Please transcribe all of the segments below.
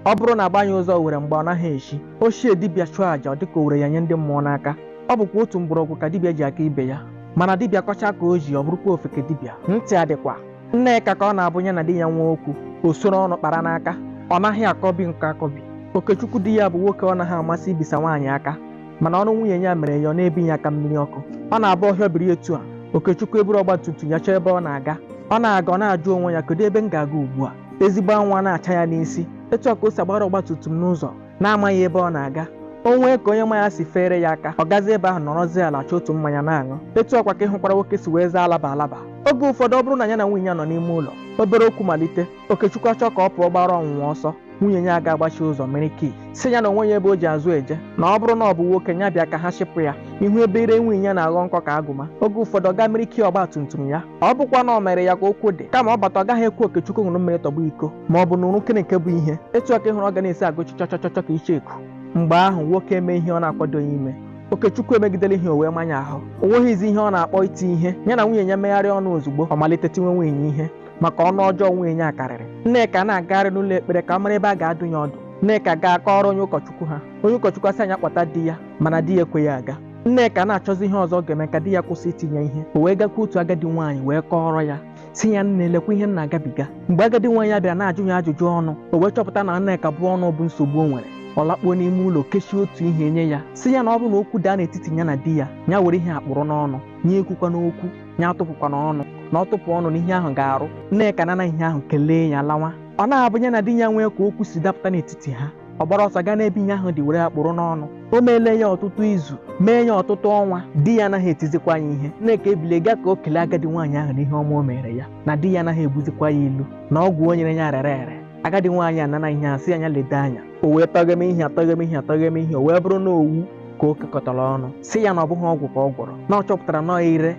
ọ bụrụ na agbanye ụzọ owere mgba ọ naghị echi ochie dibịa chụọ àjà ọ dịka o were ya nye ndị mmụọ n'aka ọ bụkwa otu mgbọrọgwụ ka dibịa ji aka ibe ya mana dibịa kọcha ka o ji ọ bụrụkwa ofeke dibịa ntị adịkwa nneka ka ọ na-abụ ya na di ya nwee okwu o soro ọnụ kpara n'aka ọ naghị akọbi nke akọbi okechukwu di ya bụ nwoke ọ naghị amasị ibisa nwaanyị aka mana ọnụ nwunye ya mere ya ọ na-ebi ya aka mmiri ọkụ ọ na-abụ ọ hịọ biri etu a okechukwu eburu ọgba tum tum ya chọọ ebe ọ na-aga ọ na-aga ọ na-ajụ onwe ya kedu ebe m ga-aga ugbu a ezigbo anwụ a na-acha ya n'isi etu a ka o si agbara ọgba tum tum n'ụzọ na-amaghị ebe ọ na-aga o nwee ka onye ma ya si feere ya aka ọ gazie ebe ahụ nọrọzie ala chọọ otu mmanya na-aṅụ etu a kwa ka ị hụkwara nwoke si wee zaa alaba alaba oge ụfọdụ ọ bụrụ na ya na nwunye ya nọ n'ime ụlọ obere okwu malite okechukwu achọ ka ọ pụọ gbara ọnwụnwa ọsọ nwunye ya ga-agbachi ụzọ were kii sị ya na o nweghị ebe o ji azụ eje na ọ bụrụ na ọ bụ nwoke ya bịa ka ha chịpụ ya ihu ebe ire nwunye ya na-aghọ nkọ ka agụba oge ụfọdụ ọ gaa were kii ọgba tum tum ya ọ bụkwa na o mere ya ka okwu dị kama ọ bata ọ gaghị ekwe okechukwu ṅụrụ mmiri tọgbọ iko ma ọ bụ nụrụ nke bụ ihe etu a ka ị hụrụ ọ ga na-esi agụchi chọchọchọchọ ka icheoku mgbe ahụ nwoke eme ihe ọ na-akwadoghị ime okechukwu emegidela ihe o wee maa ya ahụ o nweghịzi ihe ọ na-akpọ iti ihe ya na nwunye ya megharịa ọnụ ozugbo ọ malite tiwe nwunye ya ihe maka ọnụ ọjọọ nwunye ya karịrị nneka na-agagharị n'ụlọ ekpere ka ọ mara ebe a ga-adụ ya ọdụ nneka gaa kọọrọ onye ụkọchukwu ha onye ụkọchukwu asị ya kpọta di ya mana di ya ekweghị aga Nneka na-achọzi ihe ọzọ ọ ga-eme ka di ya kwụsị iti ya ihe o wee gakwuo otu agadi nwaanyị wee kọọrọ ya sị ya nne lekwa ihe m na-agabiga mgbe agadi nwaanyị a bịara na-ajụ ya ajụjụ ọnụ o wee chọpụta na Nneka bụ ọnụ bụ nsogbu o nwere ọ lakpuo n'ime ụlọ kechie otu ihe nye ya sị ya na ọ bụrụ na okwu daa n'etiti ya na di ya ya were ihe a kpụrụ n'ọnụ ya ekwukwana okwu ya atụpụkwana ọnụ na ọ tụpụ ọnụ na ihe ahụ ga-arụ Nneka anana ihe ahụ kelee ya lawa ọ na-abụ ya na di ya nwee ka okwu si dapụta n'etiti ha ọ gbara ọsọ gaa n'ebe ihe ahụ dị were ya kpụrụ n'ọnụ o meele ya ọtụtụ izu mee ya ọtụtụ ọnwa di ya anaghị etizikwa ya ihe nneka ebilie gaa ka o kelee agadi nwaanyị ahụ n'ihe ọma o meere ya na di ya anaghị egbuzikwa ya ilu na ọgwụ o nyere ya rere ere agadi nwaanyị anana ihe a sị ya leda anya o wee tọghewe ihe a tọghewe ihe a tọghewe ihe o wee bụrụ na owu ka o kekọtara ọnụ sị ya na ọ bụghị ọgwụ ka ọ gwọrọ na ọ chọpụtara na ọ ire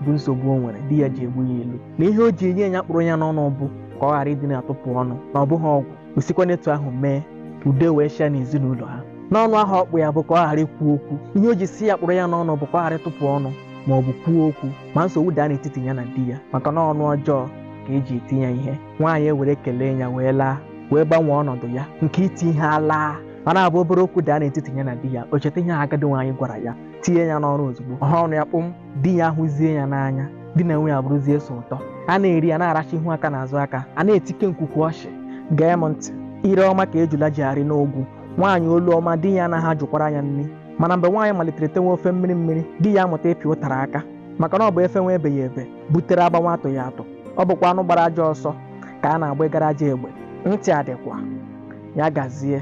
bụ nsogbu o nwere di ya ji egbu ya ilu na ihe o ji enye ya kpụrụ ya n'ọnụ bụ ka ọ ghara ịdị na-atụpụ ọnụ na ọ bụghị ọgwụ o sikwa n'etu ahụ mee ka udo wee chịa n'ezinụlọ ha na ọnụ ahụ ọ kpụ ya bụ ka ọ ghara ikwu okwu ihe o ji sị ya kpụrụ ya n'ọnụ bụ ka ọ ghara ịtụpụ ọnụ ma ọ bụ kwuo okwu ma nsogbu daa n'etiti ya na di ya maka na ọnụ ọjọọ ka eji eti ya ihe nwaanyị ewere kelee ya wee laa wee gbanwee ọnọdụ ya nke iti ihe alaa ma ọ na-abụ obere okwu daa n'etiti ya na di ya o cheta ihe agadi nwaanyị gwara ya tinye ya n'ọrụ ozugbo ọ haa ọnụ ya kpụm di ya ahụzie ya n'anya di na nwunye abụrụzie so ụtọ a na-eri a na-aracha ihu aka na azụ aka a na-etike nkwukwu ọchị gee m ntị ire ọma ka ejula ji arị n'ogwu nwaanyị olu ọma di ya anaghị ajụkwara ya nri mana mgbe nwaanyị malitere tewe ofe mmiri mmiri di ya amụta ịpị ụtara aka maka na ọ bụ e fewe ebeghị ebe butere a gbawa atụghị atụ ọ bụkwa anụ gbara ajọ ọsọ ka a na-agbagara ajọ egbe ntị adịkwa ya gazie